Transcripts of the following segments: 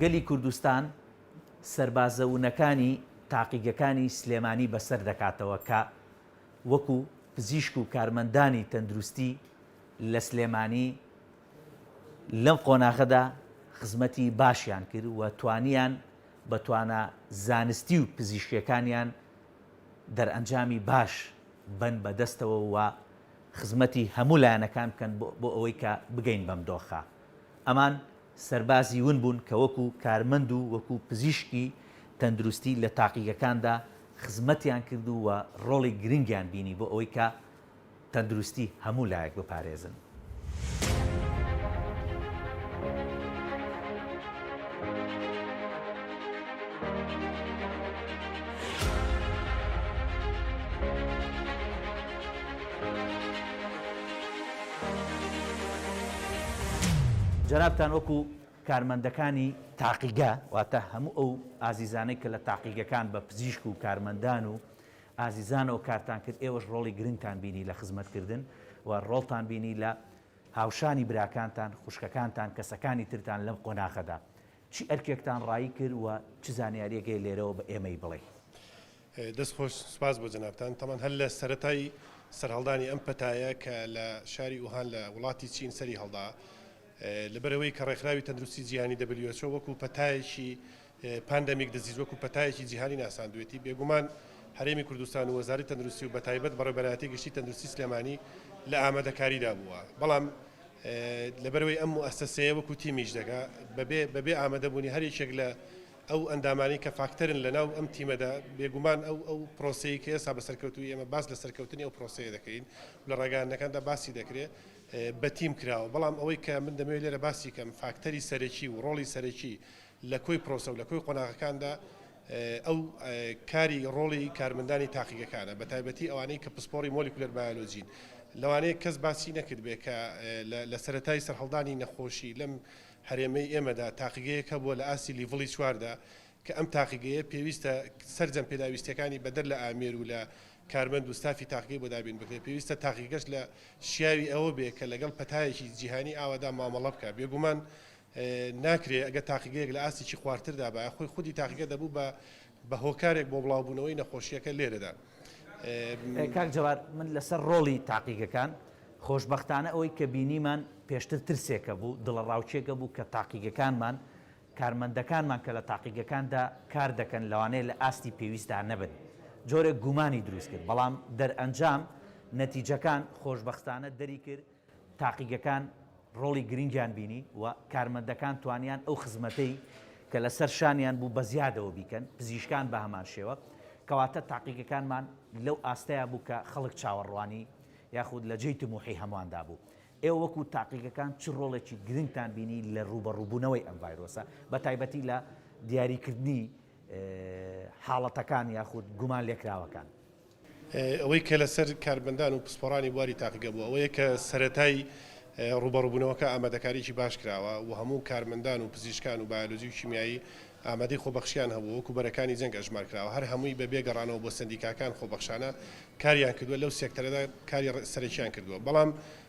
گەلی کوردستان سەربازە ونەکانی تاقیگەکانی سلێمانی بەسەر دەکاتەوە کە وەکو پزیشک و کارمەندانی تەندروستی لە سلێمانی لەم قۆناغەدا خزمەتی باشیان کرد و توانیان بە توانا زانستی و پزیشکیەکانیان دەرئەنجامی باش بەن بە دەستەوە و خزمەتی هەموو لایەنەکان بکەن بۆ ئەوەی کە بگەین بەم دۆخە. ئەمان سەربازی ون بوون کە وەکو کارمەند و وەکو پزیشکی تەندروستی لە تاقیگەکاندا خزمەتیان کرد و ڕۆڵی گرنگیان بینی بۆ ئەوەی کە تەندروستی هەموو لایەک بپارێزن. جەنابتان وەکو کارمەندەکانی تاقیگە، واتە هەموو ئەو ئازیزانەی کە لە تاقیگەکان بە پزیشک و کارمەندان و ئازیزانەوە کارتان کرد ئێوەش ڕۆڵی گرنگتان بینی لە خزمەت کردن و ڕۆڵتان بینی لە هاوشانی براکانتان خوشکەکانتان کەسەکانی ترتان لەم قۆناخەدا چی ئەرکێکتان ڕایی کرد و چ زانیاریەک هەیە لێرەوە بە ئێمەی بڵێی. دەست خۆش سوپاس بۆ جەنابتان تەمان هەر لە سەرەتای سەرهەڵدانی ئەم پەتایە کە لە شاری ئوهان لە وڵاتی چین سەری هەڵدا لەبەرئەوەی کە ڕێکخراوی تەندروستی جیهانی who وەکو پەتایەکی پاندەمیک دزیز وەکو پەتایەکی جیهانی ناساندوێتی، بێگومان هەرێمی کوردستان و وەزاری تەندروستی و بەتایبەت بەڕێوبەرایەتی گشتی تەندروستی سلێمانی لە ئامادەکاریدا بووە، بەڵام لەبەرئەوەی ئەم موئەسەسەیە وەکو تیم ئیش دەکا بەبێ بەبێ ئامادەبوونی هەر یەکێک لە ئەو ئەندامانەی کە فاکتەرن لەناو ئەم تیمەدا بێگومان ئەو ئەو پرۆسەی کە ئێستا بە سەرکەوتووی ئێمە باس لە سەرکەوتنی ئەو پرۆسەیە دەکەین و لە ڕاگەیاندنەکاندا باسی دەکرێ بە تیم کراوە، بەڵام ئەوەی کە من دەمەوێ لێرە باسی کەم فاکتەری سەرەکی و ڕۆڵی سەرەکی لە کۆی پرۆسە و لە کۆی قۆناغەکاندا ئەو کاری ڕۆڵی کارمەندانی تاقیگەکانە بە تایبەتی ئەوانەی کە پسپۆڕی مۆلیکولەر بایۆلۆجین لەوانەیە کەس باسی نەکردبێ کە لە سەرەتای سەرهەڵدانی نەخۆشی لەم هەرێمەی ئێمەدا تاقیگەیەک هەبووە لە ئاستی لیڤڵی چواردا کە ئەم تاقیگەیە پێویستە سەرجەم پێداویستیەکانی بەدەر لە ئامێر و لە کارمەند و ستافی تاقیگەی بۆ دابین بکرێت پێویستە تاقیگەش لە شیاوی ئەوە بێ کە لەگەڵ پەتایەکی جیهانی ئاوادا مامەڵە بکە بێگومان ناکرێ، ئەگەر تاقیگەیەک لە ئاستیکی خوارتر دابایە خۆی خودی تاقیگە دەبوو بە بە هۆکارێک بۆ بڵاو بوونەوەی نەخۆشیەکە لێرەدا. کاک جەواد من لەسەر ڕۆڵی تاقیگەکان خۆشبەختانە ئەوەی کە بینیمان پێشتر ترسێکە بوو دڵەڕاوکێکە بوو کە تاقیگەکانمان کارمەندەکانمان کە لە تاقیگەکاندا کار دەکەن لەوانەیە لە ئاستی پێویستدا نەبن جۆرێک گومانی دروست کرد بەڵام دەرئەنجام نەتیجەکان خۆشبەختانە دەری کرد تاقیگەکان ڕۆڵی گرنگیان بینی و کارمەندەکان توانیان ئەو خزمەتەی کە لەسەر شانیان بوو بەزیادەوە بیکەن، پزیشکان بەهەمان شێوە، کەواتە تاقیگەکانمان لەو ئاستەیا بوو کە خەڵک چاوەڕوانی یاخود لە جێی تموحی هەمواندا بوو. ئێوە وەکو تاقیگەکان چ ڕۆڵێکی گرنگتان بینی لە ڕووبەڕووبوونەوەی ئەم ڤایرۆسە بەتایبەتی لە دیاریکردنی حاڵەتەکان یاخود گومان لێکراوەکان؟ ئەوەی کە لەسەر کارمەندان و پسپۆڕانی بواری تاقیگە بووە ئەوەیە کە سەرەتای ڕووبەڕووبوونەوەکە ئامادەکاریی باش کراوە و هەموو کارمەندان و پزیشکان و بایۆلۆجی و کیمیایی ئامادەی خۆبەخشییان هەبوو وەکو بەرەکانی جەنگ ئەژمار کراوە هەر هەمووی بە بێ گەڕانەوە بۆ سەندیکاکان خۆبەخشانە کاریان کردووە لەو سێکتەرەدا کاری سەرەکییان کردووە بەڵام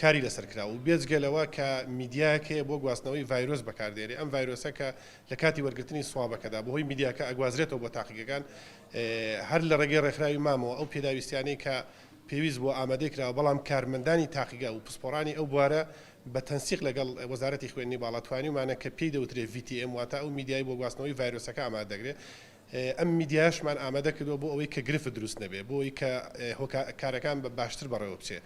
کاری لەسەر کراوە و بێجگە لەوە کە میدیایەک هەیە بۆ گواستنەوەی ڤایرۆس بەکار دێنێ ئەم ڤایرۆسە کە لە کاتی وەرگرتنی سوابەکەدا بەهۆی میدیاکە ئەگوازرێتەوە بۆ تاقیگەکان هەر لە ڕێگەی ڕێکخراوی مامەوە ئەو پێداویستیانەی کە پێویست بووە ئامادەی کراوە بەڵام کارمەندانی تاقیگە و پسپۆڕانی ئەو بوارە بە تەنسیق لەگەڵ وەزارەتی خوێندنی باڵا توانیومانە کە پێی دەوترێ VTM واتە ئەو میدیای بۆ گواستنەوەی ڤایرۆسەکە ئامادە دەکرێ ئەم میدیایەشمان ئامادە کردووە بۆ ئەوەی کە گرفت دروست نەبێت، بۆ ئەوەی کە هۆکارەکان باشتر بەڕێوە بچێت.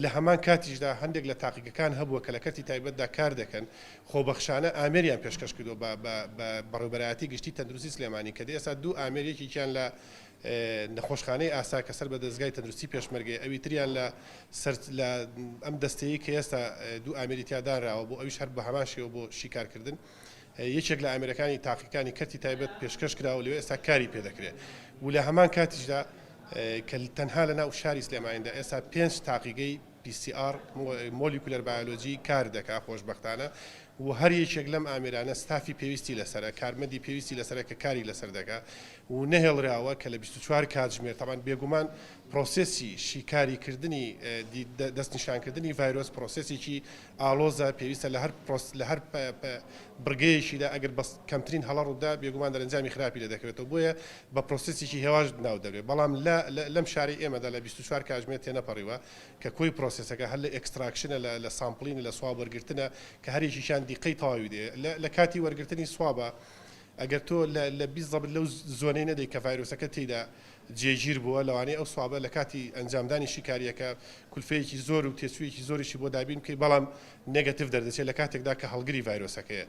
لە هەمان کاتیشدا هەندێک لە تاقیگەکان هەبووە کە لە کەرتی تایبەتدا کار دەکەن، خۆبەخشانە ئامێریان پێشکەش کردووە بە بەڕێوەبەرایەتی گشتی تەندروستی سلێمانی کە ئێستا دوو ئامێر یەکێکیان لە نەخۆشخانەی ئاسا کە سەر بە دەزگای تەندروستی پێشمەرگەیە ئەوی تریان لە سەر لە ئەم دەستەیەی کە ئێستا دوو ئامێری تیا دانراوە بۆ ئەویش هەر بە هەمان شێوە بۆ شیکارکردن یەکێک لە ئامێرەکانی تاقیکانی کەرتی تایبەت پێشکەش کرا و لەوێ ئێستا کاری پێ دەکرێت و لە هەمان کاتیشدا کە تەنها لە ناو شاری سلێمانیدا ئێستا پێنج تاقیگەی PCR مۆلیکولەر بایۆلۆجی کار دەکا خۆشببختانە و هەر یەکێک لەم ئامێرانە ستافی پێویستی لەسرە کارمەندی پێویستی لەسرە کە کاری لەسەر دەکا و نەهێڵراوە کە لە 24 کاتژمێر تاوان بێگومان پرۆسسی شیکاری کردنی دەستنیشانکردنی ڤایرۆس پرۆسسێکی ئاڵۆزە، پێویستە لە هەر پرۆس لە هەر بڕگەیەکیدا ئەگەر بە کەمترین هەڵە ڕووبدا بێگومان دەرەنجامی خراپی لێ دەکەوێتەوە بۆیە بە پرۆسێسێکی هێواش ناو دەبرێت بەڵام لە لەم شارەی ئێمەدا لە بیست و چوار کاتژمێر تێنەپەڕیوە کە کۆی پرۆسێسەکە هەر لە ئێکستراکشنە لە لە سامپڵینە لە سواب وەرگرتنە کە هەر یەکیکیان دیقەی تەواوی دێ لە لە کاتی وەرگرتنی سوابە ئەگەر تۆ لە لە بیست ضەبت لەو زۆنەی نەدەی کە ڤایرۆسەکە تێیدا جێگیر بووە، لەوانەیە ئەو سوابە لە کاتی ئەنجامدانی شیکارییەکە کولفەیەکی زۆر و تێچوویەکی زۆریشی بۆ دابین بکەی بەڵام نێگەتیڤ دەردەچێت لە کاتێکدا کە هەڵگری ڤایرۆسەکەیە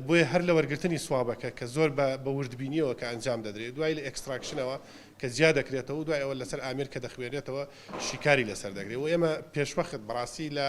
بۆیە هەر لە وەرگرتنی سوابەکە کە زۆر بە بە وردبینییەوە کە ئەنجام دەدرێت دوای لە ئێکستراکشنەوە کە جیا دەکرێتەوە و دوای ئەوە لەسەر ئامێر کە دەخوێنرێتەوە شیکاری لەسەر دەکرێت و ئێمە پێشوەخت بەڕاستی لە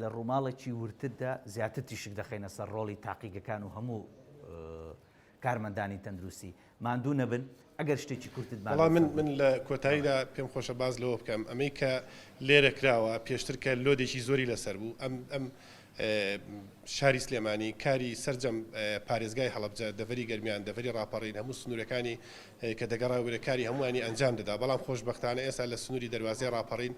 لە ڕووماڵێکی وردتردا زیاتر تیشک دەخەینە سەر ڕۆڵی تاقیگەکان و هەموو کارمەندانی تەندروستی ماندوو نەبن ئەگەر شتێکی کورتت بە بەڵام من من لە کۆتاییدا پێم خۆشە باز لەوە بکەم ئەمەی کە لێرە کراوە پێشتر کە لۆدێکی زۆری لەسەر بوو ئەم ئەم شاری سلێمانی کاری سرجەم پارێزگای هەڵبجە دەڤری گەرمیان دەڤری ڕاپەڕین هەموو سنوورەکانی کە دەگەڕاوەێ کاری هەمووانی ئەنجام دەدا بەڵام خۆشببختانە ئێستا لە سنووری دەواازەی ڕاپەڕین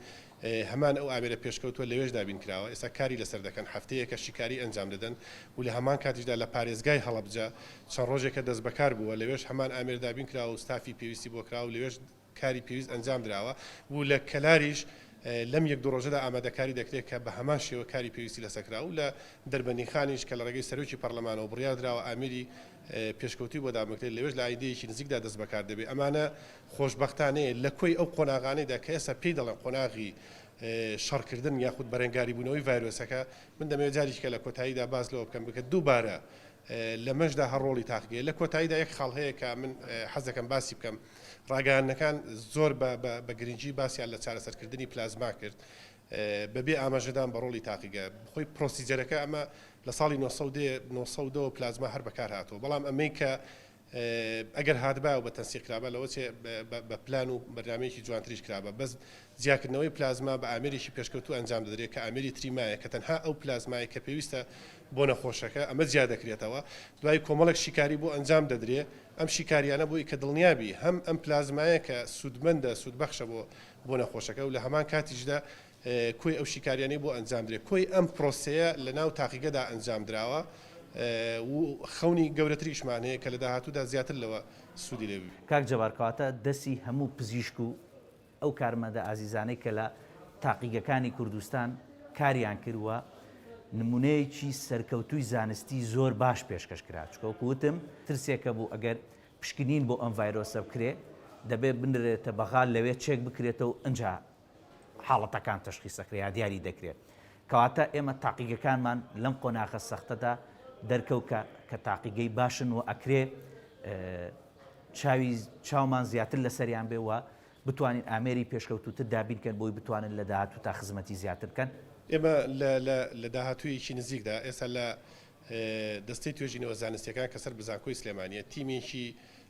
هەمان ئەو ئامێرە پێشکەوتووە لەوێش دابین کراوە، ئێستا کاری لەسەر دەکەن، هەفتەیەکە شیکاریی ئەنجام دەدەن و لە هەمان کاتیشدا لە پارێزگای هەڵەبجە چەند ڕۆژێکە دەستبەکار بووە، لەوێش هەمان ئامێر دابین کراوە و ستافی پێویستی بۆ کراوە و لەوێش کاری پێویست ئەنجام دراوە و لە کەلاریش لەم یەک دوو ڕۆژەدا ئامادەکاری دەکرێت کە بە هەمان شێوە کاری پێویستی لەسەر کراوە و لە دەربەندیخانیش کە لە ڕێگەی سەرۆکی پەرلەمانەوە بڕیار دراوە ئامێری پێشکەوتووی بۆ دابنکرێت، لەوێش لە ئایندەیەکی نزیکدا دەستبەکار دەبێت. ئەمانە خۆشبەختانەیە لە کۆی ئەو قۆناغانەیدا کە ئێستا پێی دەڵێن قۆناغی شەڕکردن یاخود بەرەنگاریبوونەوەی ڤایرۆسەکە. من دەمەوێت جاریکە لە کۆتاییدا باس لەوە بکەم بکە دووبارە لەمەشدا هەر ڕۆڵی تاقیگەیە. لە کۆتاییدا یەک خاڵ هەیە کە من حەز دەکەم باسی بکەم. ڕاگەیاندنەکان زۆر بە گرنگی باسیان لە چارەسەرکردنی پلازما کرد. بە بێ ئاماژەدان بە ڕۆڵی تاقیگە. خۆی پرۆسیجەرەکە ئەمە لە ساڵی نۆ سەد و دە، نۆ سەد و دە وە پلازما هەر بەکار هاتووە. بەڵام ئەمەی کە ئەگەر هاتبا و بە تەنسیق کرابا لەوە چێ بە پلان و بەرنامەیەکی جوانتریش کرابا. بەس جیاکردنەوەی پلازما بە ئامێرێکی پێشکەوتوو ئەنجام دەدرێ کە ئامێری تریمایە کە تەنها ئەو پلازمایە کە پێویستە بۆ نەخۆشەکە ئەمە جیا دەکرێتەوە. دوای کۆمەڵێک شیکاری بۆ ئەنجام دەدرێ. ئەم شیکاریانە بۆی کە دڵنیا بی هەم ئەم پلازمایە کە سوودمەندە، سوودبەخشە بۆ بۆ نەخۆشەکە و لە هەمان کاتیشدا کۆی ئەو شیکاریانەی بۆ ئەنجامدرێت کۆی ئەم پرۆسەیە لە ناو تاقیگەدا ئەنجامدراوە و خەونی گەورەتریشمان هەیە کە لە داهاتوودا زیاتر لەوە سوودی لێ ببینین. کاک جەبار کەواتە دەستی هەموو پزیشک و ئەو کارمەندە ئازیزانەی کە لە تاقیگەکانی کوردستان کاریان کرد و نمونەیەکی سەرکەوتووی زانستی زۆر باش پێشکەش کرا چونکە وەکو وتم ترسێکە بوو ئەگەر پشکنین بۆ ئەم ڤایرۆسە بکرێ دەبێ بنرێتە بەغا لەوێ چێک بکرێتەوە ئنجا حاڵەتەکان تەشخیس ئەکرێ یا دیاری دەکرێ کەواتە ئێمە تاقیگەکانمان لەم قۆناغە سەختەدا دەرکەوت کە کە تاقیگەی باشن و ئەکرێ چاوی چاومان زیاتر لەسەریان بێ وە بتوانین ئامێری پێشکەوتوتر دابینکەن بۆی بتوانن لە داهاتوو تا خزمەتی زیاتر بکەن. ئێمە لە لە داهاتوویەکی نزیکدا ئێستا لە دەستەی توێژینەوە زانستییەکان کە سەر بە زانکۆی سلێمانییە، تیمێکی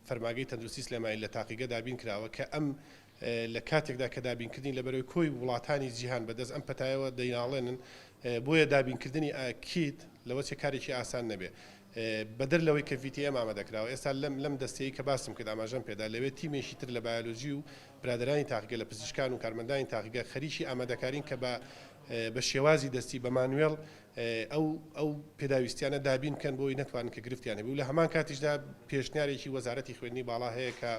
فەرمانگەی تەندروستی سلێمانی لە تاقیگە دابین کراوە کە ئەم لە کاتێکدا کە دابینکردنی لە بەرەی کۆی وڵاتانی جیهان بەدەست ئەم پەتایەوە دەیناڵێنن بۆیە دابینکردنی کیت لەوە چێ کارێکی ئاسان نەبێ بەدەر لەوەی کە VTM ئامادە کراوە ئێستا لەم لەم دەستەی کە باسم کرد ئاماژەم پێدا لەوێ تیمێکی تر لە بایۆلۆجی و برادەرانی تاقیگە لە پزیشکان و کارمەندانی تاقیگە خەریکی ئامادەکارین کە بە بە شێوازی دەستی بە مانوێڵ ئەو ئەو پێداویستیانە دابین بکەن بۆ ئەوەی نەتوانن کە گرفتیان هەبێت و لە هەمان کاتیشدا پێشنیارێکی وەزارەتی خوێندنی باڵا هەیە کە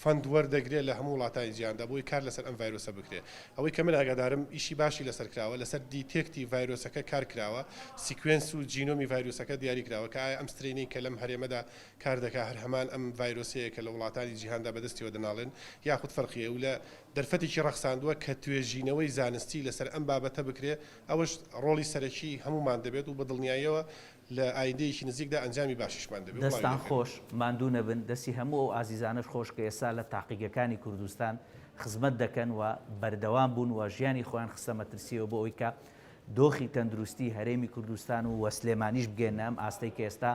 فەند وەردەگرێت لە هەموو وڵاتانی جیهاندا بۆی کار لەسەر ئەم ڤایرۆسە بکرێت ئەوەی کە من ئاگادارم ئیشی باشی لەسەر کراوە لەسەر دیتێکتی ڤایرۆسەکە کار کراوە سیکوێنس و جینۆمی ڤایرۆسەکە دیاری کراوە کە ئایا ئەم سترینەی کە لەم هەرێمەدا کار دەکات هەر هەمان ئەم ڤایرۆسەیە کە لە وڵاتانی جیهاندا بەدەستیەوە دەناڵێن یاخود فەرقی هەیە و لە دەرفەتێکی ڕەخساندووە کە توێژینەوەی زانستی لەسەر ئەم بابەتە بکرێ، ئەوەش ڕۆڵی سەرەکی هەموومان دەبێت و بە دڵنیاییەوە لە ئایندەیەکی نزیکدا ئەنجامی باشیشمان دەبێ و بڵاوی دەستان دەکەین. خۆش، ماندوو نەبن، دەستی هەموو ئەو ئازیزانەش خۆش کە ئێستا لە تاقیگەکانی کوردستان خزمەت دەکەن و بەردەوام بوون و ژیانی خۆیان خستە مەترسییەوە بۆ ئەوەی کە دۆخی تەندروستی هەرێمی کوردستان و سلێمانیش بگەیەننە ئەم ئاستەی کە ئێستا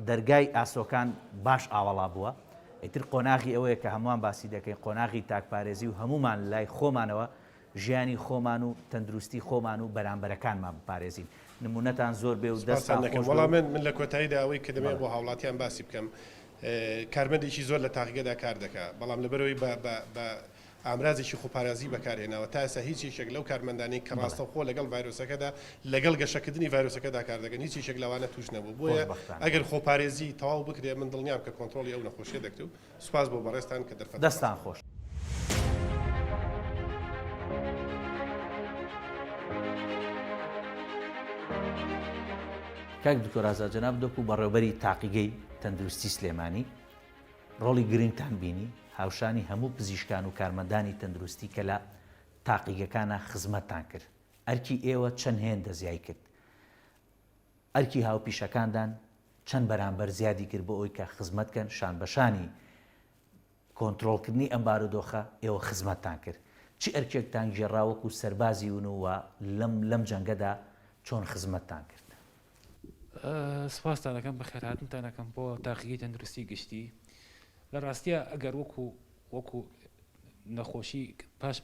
دەرگای ئاسۆکان باش ئاوەڵا بووە، ئیتر قۆناغی ئەوەیە کە هەمووان باسی دەکەین، قۆناغی تاکپارێزی و هەموومان لای خۆمانەوە ژیانی خۆمان و تەندروستی خۆمان و بەرامبەرەکانمان بپارێزین. نموونەتان زۆر بێ و دەستتان خۆش بێ و. سپاستان دەکەم. وەڵا من لە کۆتاییدا ئەوەی کە دەمەوێ بۆ هاوڵاتیان باسی بکەم، کارمەندێکی زۆر لە تاقیگەدا کار دەکا، بەڵام لەبەرئەوەی بە ئامرازێکی خۆپارێزی بەکارهێناوە، تا ئێستا هیچ یەکێک لەو کارمەندانەی کە ڕاستەوخۆ لەگەڵ ڤایرۆسەکەدا لەگەڵ گەشەکردنی ڤایرۆسەکەدا کار دەکەن هیچ یەکێک لەوانە تووش نەبووە، بۆیە ئەگەر خۆپارێزی تەواو بکرێت من دڵنیام کە کۆنتڕۆڵی ئەو نەخۆشیە دەکرێت و سوپاس بۆ بەڕێزتان کە دەرفەتم بەخشی. کاک دکتۆر ئازاد جەناب دکو بەڕێوبەری تاقیگەی تەندروستی سلێمانی ڕۆڵی گرنگتان بینی، هاوشانی هەموو پزیشکان و کارمەندانی تەندروستی کە لە تاقیگەکانا خزمەتتان کرد. ئەرکی ئێوە چەند هێندە زیای کرد؟ ئەرکی هاوپیشەکاندان چەند بەرامبەر زیادی کرد بۆ ئەوی کە خزمەت کەن، شانبەشانی کۆنترۆڵکردنی ئەم بارودۆخە ئێوە خزمەتتان کرد؟ چ ئەرکێکتان گێڕا وەکو سەربازی ون و لەم جەنگەدا چۆن خزمەتتان کرد؟ سپاستان ئەکەم بەخێرهاتنتان ئەکەم بۆ تاقیگەی تەندروستی گشتی لە ڕاستیە ئەگەر وەکو وەکو نەخۆشی پاش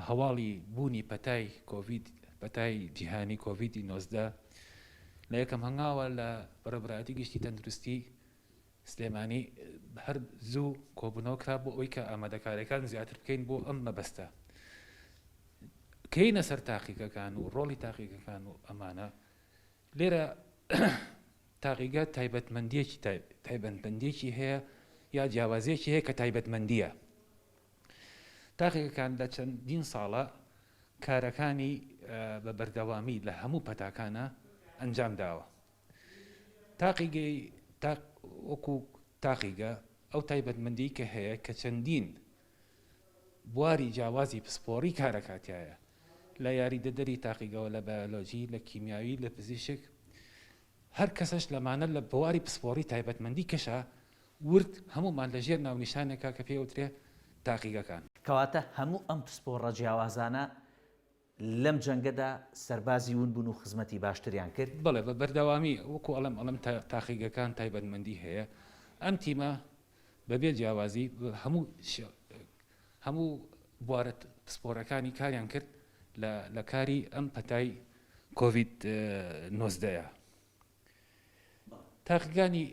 هەواڵی بوونی پەتای کۆڤید پەتای جیهانی کۆڤیدی نۆزدە لە یەکەم هەنگاوە لە بەرەبراتی گشتی تەندروستی سلێمانی هەر زوو کۆبوونەوە کرا بۆ ئەوەی کە ئامادەکاریەکان زیاتر بکەین بۆ ئەم مەبەستە کەینە سەر تاقیقەکان و ڕۆڵی تاقیقەکان و ئەمانە لێرە تاقیگە تایبەتمەندیەکی تایبەتبندێکی هەیە یا جیاوازیەکی هەیە کە تایبەتمەندیە تاقیەکان لە چەندین ساڵە کارەکانی بە بەردەوامی لە هەموو پەتاکانە ئەنجام داوە تاقیگەی تاق وەکو تاقیگە ئەو تایبەتمەندی کە هەیە کە چەندین بواری جیاوازی پسپۆڕی کارەکاتایە لە یاریدەدەری تاقیگەوە لە بایۆلۆجی لە کیمیاوی لە پزیشک هەر کەسش لەمانە لە بواری پسپۆڕی تایبەتمەندی کەشە ورد هەمومان لە ژێر ناونیشانێکا کە پێوترێ تاقیگەکان. کەواتە هەموو ئەم پسپۆڕە جیاوازانە لەم جەنگەدا سەربازی ون بوون و خزمەتی باشتریان کرد. بەڵێ بە بەردەوامی وەکو ئەڵێم ئەڵێم تا تاقیگەکان تایبەتمەندی هەیە ئەم تیمە بەبێ جیاوازی هەموو هەموو بوارە پسپۆرەکانی کاریان کرد لە لە کاری ئەم پەتای کۆڤید نۆزدەیە تاقیگانی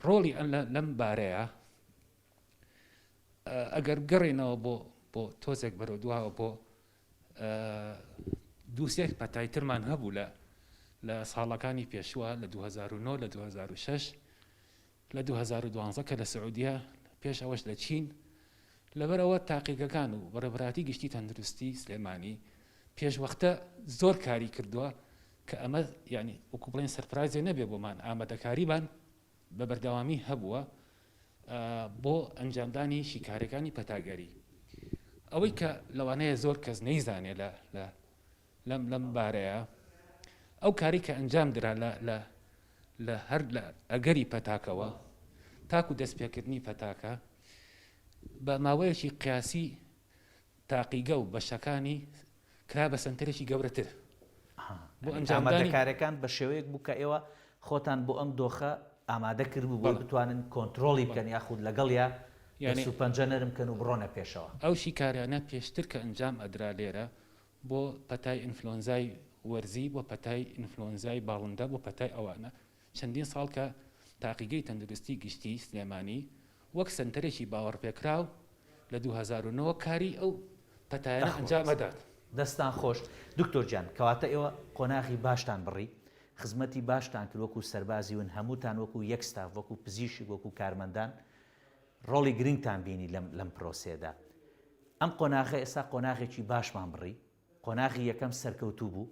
ڕۆڵی ئەن لەم بارەیە. ئەگەر بگەڕێنەوە بۆ بۆ تۆزێک بەرەو دواوە بۆ دووسێک پەتای ترمان هەبوو لە لە ساڵەکانی پێشوە لە 2009 لە 2006 لە 2012 کە لە سعودیە پێش ئەوەش لە چین لەبەرەوە تاقیگەکان و بەڕێبراتی گشتی تەندروستی سلێمانی پێشوەختە زۆر کاری کردووە کە ئەمە ینی وەکو بڵێن سەرپرازێ نەبێ بۆمان ئامادەکاریبان بە بەردەوامی هەبووە بۆ ئەنجامدانی شیکاریەکانی پەتاگەری. ئەوەی کە لەوانەیە زۆر کەس نەیزانێ لەم بارەیە، ئەو کارەی کە ئەنجام درا لە هەر لە ئەگەری پەتاکەوە تاکو دەستپێکردنی پەتاکە بە ماوەیەکی قیاسی، تاقیگە و بەشەکانی کرا بە سەنتەرێکی گەورەتر بۆ ئەنجامدانی. یانی ئامادەکاریەکان بە شێوەیەک بوو کە ئێوە خۆتان بۆ ئەم دۆخە ئامادە کردبوو بۆی بتوانن کۆنترۆڵی بکەن یاخود لەگەڵیا دەست و پەنجە نەرم بکەن و بڕۆنە پێشەوە. ئەو شیکاریانە پێشتر کە ئەنجام ئەدرا لێرە بۆ پەتای ئینفلۆنزای وەرزی، بۆ پەتای ئینفلۆنزای باڵندە، بۆ پەتای ئەوانە چەندین ساڵ کە تاقیگەی تەندروستی گشتی سلێمانی وەک سەنتەرێکی باوەڕپێکراو لە دوو هەزار و نۆ کاری ئەو پەتایانە ئەنجام ئەدات. دەستتان خۆش دکتۆر گیان، کەواتە ئێوە قۆناغی باشتان بڕی، خزمەتی باشتان کرد وەکو سەربازی ون هەمووتان وەکو یەک ستاف وەکو پزیشک وەکو کارمەندان ڕۆڵی گرنگتان بینی لەم لەم پرۆسەیەدا ئەم قۆناغە ئێستا قۆناغێکی باشمان بڕی قۆناغی یەکەم سەرکەوتوو بوو،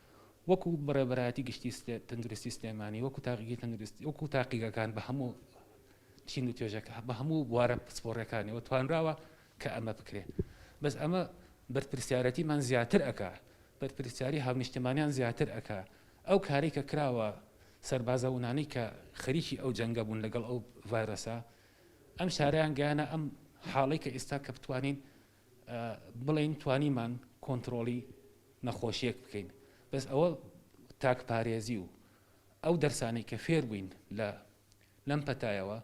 وەکو بەڕێوەبەرایەتی گشتی تەندروستی سلێمانی وەکو تاقیگەی تەندروستی وەکو تاقیگەکان بە هەموو چین و توێژەکە بە هەموو بوارە پسپۆڕەکانەوە توانراوە کە ئەمە بکرێ بەس ئەمە بەرپرسیارەتیمان زیاتر ئەک بەرپرسیاری هاونیشتمانیان زیاتر ئەک ئەو کاری کە کراوە سەربازەونانەی کە خەریکی ئەو جەنگە بوون لەگەڵ ئەو ڤایرۆسە ئەم شاریان گیانە ئەم حاڵی کە ئێستا کە بتوانین بڵێین توانیمان کۆنتڕۆڵی نەخۆشیەک بکەین بەس ئەوە تاک پارێزی و ئەو دەرسانەی کە فێر بووین لە لەم پەتایەوە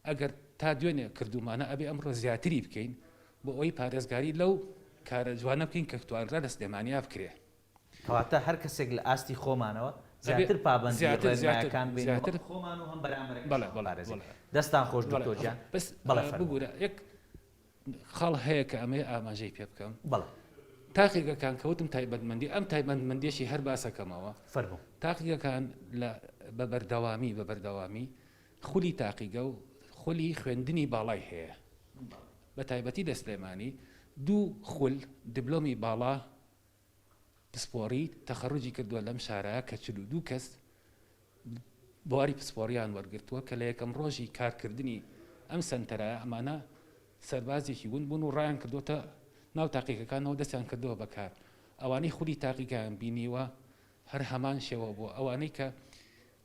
ئەگەر تا دوێنێ کردومانە ئەبێ ئەمڕۆ زیاتری بکەین بۆ ئەوی پارێزگاری لەو کارە جوانە بکەین کە توانرا لە سلێمانیا بکرێ کەواتە هەر کەسێک لە ئاستی خۆمانەوە زیاتر پابەندی ڕێنمایەکان بین زیاتر خۆمان و هەم بەرامبەرەکەش بەڵێ بەڵێ بەڵێ دەستان خۆش دکتۆر گیان بەس بەڵێ فەرموو ببورە یەک خاڵ هەیە کە ئەمەی ئاماژەی پێ بکەم بەڵێ تاقیگەکان کەوتم تایبەتمەندی ئەم تایبەتمەندێکی هەر باسەکەمەوە فەرمو تاقیگەکان لە بە بەردەوامی بە بەردەوامی خولی تاقیگە و خولی خوێندنی باڵای هەیە بە تایبەتی لە سلێمانی دوو خول دبلۆمی باڵا پسپۆڕی تەخەروجی کردووە لەم شارە کە چل و دوو کەس بواری پسپۆڕیان وەرگرتووە کە لە یەکەم ڕۆژی کارکردنی ئەم سەنتەرە ئەمانە سەربازێکی ون بوون و ڕایان کردوتە ناو تاقیەکەکانەوە دەستیان کردەوە بەکار ئەوانەی خولی تاقیگەیان بینیوە هەر هەمان شێوە بۆ ئەوانەی کە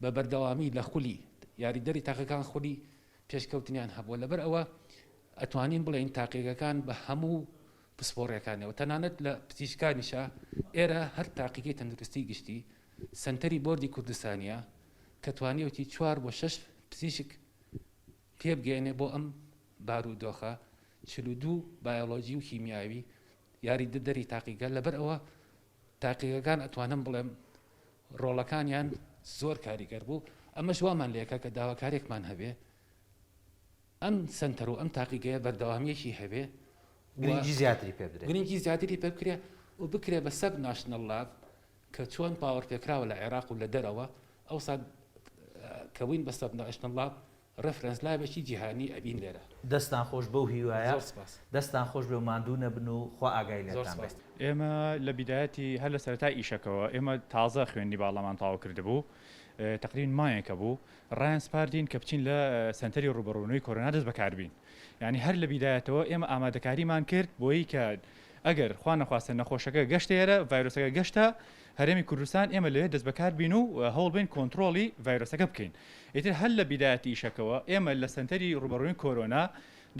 بە بەردەوامی لە خولی یاریدەری تاقەکان خولی پێشکەوتنیان هەبووە لەبەر ئەوە ئەتوانین بڵێن تاقیگەکان بە هەموو پسپۆڕیەکانەوە تەنانەت لە پزیشکانیشە ئێرە هەر تاقیگەی تەندروستی گشتی سەنتەری بۆردی کوردستانیە کە توانیوتی چوار بۆ شەش پزیشک پێبگەێنێ بۆ ئەم بارو دۆخە چل و دوو بایۆلۆجی و کیمیاوی یاری دەری تاقیگە لەبەر ئەوە تاقیگەکان ئەتوانم بڵێم ڕۆڵەکانیان زۆر کاریگەر بوو ئەمەش وامان لێکە کە داواکارێکمان هەبێ ئەم سەنتەر و ئەم تاقیگەیە بەردەوامییەکی هەبێ و گرنگی زیاتری پێ بدرێ. گرنگی زیاتری پێ بکرێ و بکرێ بە سەب ناشنەڵ لااب کە چۆن باوەڕپێکراوە لە عێراق و لە دەرەوە ئەوسا کە بووین بە سەب ناشنەڵ لااب ڕێفرەنس لابێکی جیهانی ئەبین لێرە. دەستتان خۆش بەو هیوایە. زۆر سپاس. دەستتان خۆش بێ و ماندوو نەبن و خوا ئاگای زۆر لێتان بێ. سپاس. ئێمە لە بیدایەتی هەر لە سەرەتای ئیشەکەوە ئێمە تازە خوێندنی باڵامان تەواو کردبوو تەقریبەن مایەکە بوو ڕایانسپاردین کە بچین لە سەنتەری ڕووبەڕوونەوەی کۆرۆنا دەست بەکاربین یانی هەر لە بیدایەتەوە ئێمە ئامادەکاریمان کرد بۆیی کە ئەگەر خوا نەخواستە نەخۆشەکە گەشتە ئێرە ڤایرۆسەکە گەشتە هەرێمی کوردستان ئێمە لەوێ دەست بەکاربین و هەوڵبین کۆنتترۆڵی ڤایرۆسەکە بکەین ئیتر هەر لە بیدایەتی ئیشەکەەوە ئێمە لە سەنتەری ڕوبەڕووین کۆرۆنا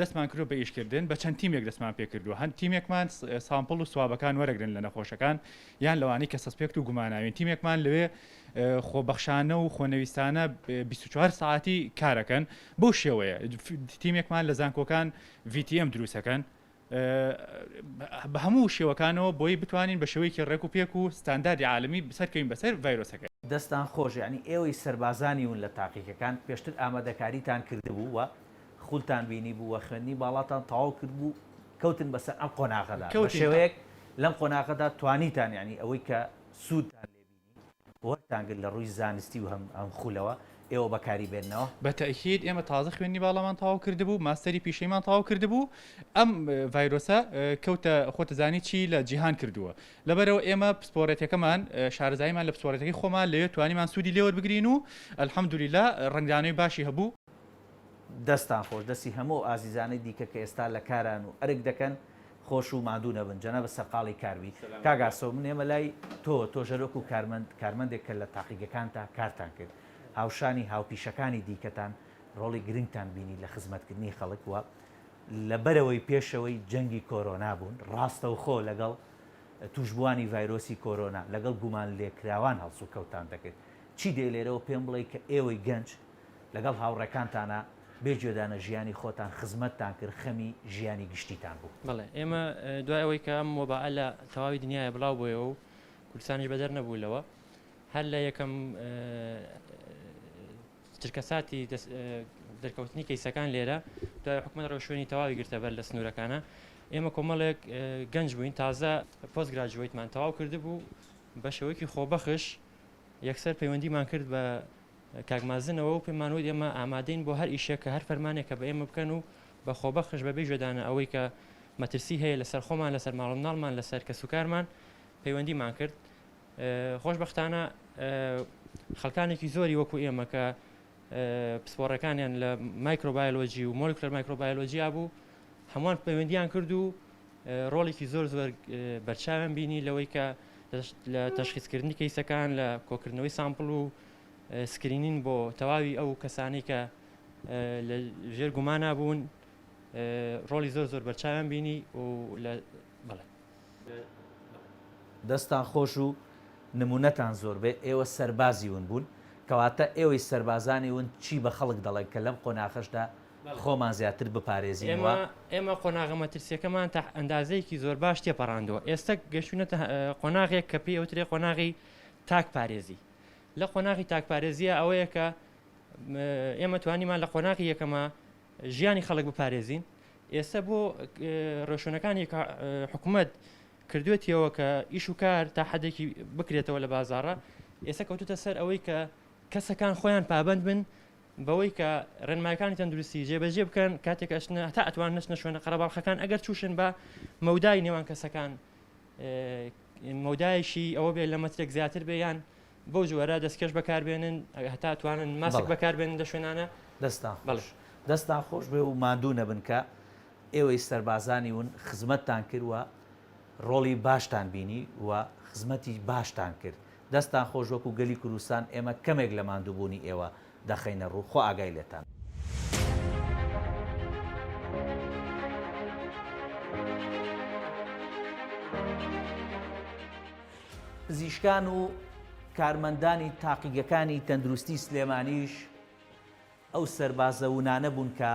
دەستمان کرۆ بە ئیشکردن بە چەند تیمێک دەستمان پێکردو هەند تیمێکمان سامپل و سوابەکان وەرەگرن لە نەخۆشەکان یان لەوانی کە سەسپێکت و گوماناوین تیمێکمان لەوێ خۆبەخشانە و خۆنەویستانە بیست و چوار سەعاتی کارەکەن بەو شێوەیە تیمێکمان لە زانکۆکان VTM دروستەکەن بە هەموو شێوەکانەوە بۆی بتوانین بە شێوەیەکی ڕێک و پێک و ستانداردی عالمی سەرکەوین بەسەر ڤایرۆسەکە. دەستتان خۆش یەعنی ئێوەی سەربازانی ون لە تاقیکەکان پێشتر ئامادەکاریتان کردبوو و خولتان بینی بوو و خوێندنی باڵاتان تەواو کردبوو کەوتن بەسەر ئەم قۆناغەدا بەشێوەیەک لەم قۆناغەدا توانیتان یەعنی ئەوەی کە سوودتان لێ بینی وەرتان گرت لە ڕووی زانستی و هەم هەم خولەوە ئێوە بەکاری بێننەوە. بە تەئکید ئێمە تازە خوێندنی باڵامان تەواو کردبوو ماستەری پیشەیمان تەواو کردبوو ئەم ڤایرۆسە کەوتە خۆتە زانی چی لە جیهان کردووە لەبەرەوە ئێمە پسپۆرێتەکەمان شارەزاییمان لە پسپۆرێتەکەی خۆمان لەوێ توانیمان سوودی لێ وەربگرین و الحمدللە ڕەنگدانەوەی باشی هەبوو. دەستتان خۆش دەستی هەموو ئەو ئازیزانەی دیکە کە ئێستا لە کاران و ئەرک دەکەن خۆش و ماندوو نەبن جەنابت سەرقاڵی کار بیت. کاک ئاسۆ من ئێمە لای تۆ تۆ ژەر وەکو کارمەند کارمەندێک کە لە تاقیگەکانتا کارتان کرد هاوشانی هاوپیشەکانی دیکەتان ڕۆڵی گرنگتان بینی لە خزمەتکردنی خەڵک و لە بەرەوەی پێشەوەی جەنگی کۆرۆنا بوون ڕاستەوخۆ لەگەڵ توشبوانی ڤایرۆسی کۆرۆنا لەگەڵ گومانلێکراوان هەڵسوکەوتتان دەکرد چی دێ لێرەوە پێم بڵێ کە ئێوەی گەنج لەگەڵ هاوڕێکانتانا بێ گوێدانە ژیانی خۆتان خزمەتتان کرد خەمی ژیانی گشتیتان بوو. بەڵێ ئێمە دوای ئەوەی کە ئەم وەبائە لە تەواوی دنیایا بڵاو بۆیەوە و کوردستانیش بەدەر نەبوو لەوە هەر لە یەکەم چرکەساتی دەرکەوتنی کەیسەکان لێرە دوای حکومەت ڕێوشوێنی تەواوی گرتە بەر لە سنوورەکانە ئێمە کۆمەڵێک گەنج بووین تازە پۆست گراجویتمان تەواو کردبوو بە شێوەیەکی خۆبەخش یەکسەر پەیوەندیمان کرد بە کاک مازنەوە و پێمان وت ئێمە ئامادەین بۆ هەر ئیشێک کە هەر فەرمانێک کە بە ئێمە بکەن و بە خۆبەخش بە بێ گوێدانە ئەوەی کە مەترسی هەیە لە سەر خۆمان لە سەر ماڵ و مناڵمان لە سەر کەس و کارمان پەیوەندیمان کرد خۆشببختانە خەکانێکی زۆری وەکو ئێمە کە پسپۆڕەکانیان لە مایکرۆبایلۆجی و مۆلکلەر مایکرۆبایلۆجییا بوو هەمووان پەیوەندیان کرد و ڕۆڵێکی زۆر زۆر بەرچاویان بینی لەوەی کە لە تەشخیزکردنی کەیسەکان لە کۆکردنەوەی سامپل و سکرینین بۆ تەواوی ئەو کەسانەی کە لە ژێر گومانا بوون ڕۆڵی زۆر زۆر بەرچاویان بینی و لە بەڵێ دەستان خۆش و نمونەتان زۆربێ ئێوە سەربازی ون بوون کەواتە ئێوەی سەربازانی ون چی بە خەڵک دەڵێن کە لەم قۆناخەشدا خۆمان زیاتر بپارێزین و ئێمە قۆناغە مەترسیەکەمان تا ئەندازەیەکی زۆر باش تێپەڕاندووە ئێستا گەشتونەتە قۆناغێک کە پێی ئەوترێ قۆناغی تاک پارێزی لە قۆناغی تاکپارێزیە ئەوەیە کە ئێمە توانیمان لە قۆناغی یەکەمە ژیانی خەڵک بپارێزین ئێستا بۆ ڕۆشنەکانی حکوومەت کردوێتیەوە کە ئیش و کار تا حدێکی بکرێتەوە لە بازارڕە ئێستا کەوتتە سەر ئەوەی کە کەسەکان خۆیان پابند بن بەوەی کە ڕێنمایەکانی تەندروستی جێبەجێ بکەن کاتێک ئەشنە تا ئەتوان نشنە شوێنە قەرەباڵخەکان ئەگەر چوشن بە مەودای نێوان کەسەکان مەودایەکی ئەوە بێت لە مەترێک زیاتر بێ یان بەو جۆرە دەستکەش بەکاربێنن هەتا توانن ماسک بەکاربێنن لە شوێنانە دەستا بەڵش دەستان خۆش بێ و مادوو نەبن کە ئێوەی سەربازانی ون خزمەتتان کردوە ڕۆڵی باشتان بینی و خزمەتی باشتان کرد دەستان خۆش وەکو گەلی کوردستان ئێمە کەمێک لە مادووبوونی ئێوە دەخەینە ڕوو خوا ئاگای لێتان. پزیشکان و کارمەندانی تاقیگەکانی تەندروستی سلێمانیش ئەو سەربازە ونانە بوون کە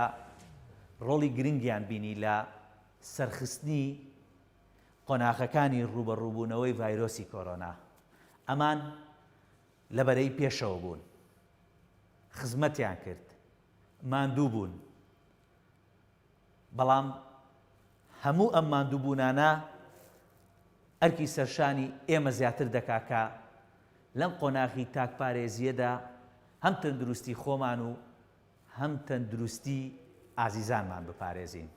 ڕۆڵی گرنگیان بینی لە سەرخستنی قۆناغەکانی ڕووبەڕووبوونەوەی ڤایرۆسی کۆرۆنا ئەمان لە بەرەی پێشەوە بوون، خزمەتیان کرد، ماندوو بوون، بەڵام هەموو ئەم ماندووبوونانە ئەرکی سەرشانی ئێمە زیاتر دەکا کە لەم قۆناغی تاکپارێزییەدا هەم تەندروستی خۆمان و هەم تەندروستی ئازیزانمان بپارێزین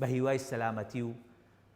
بە هیوای سەلامەتی و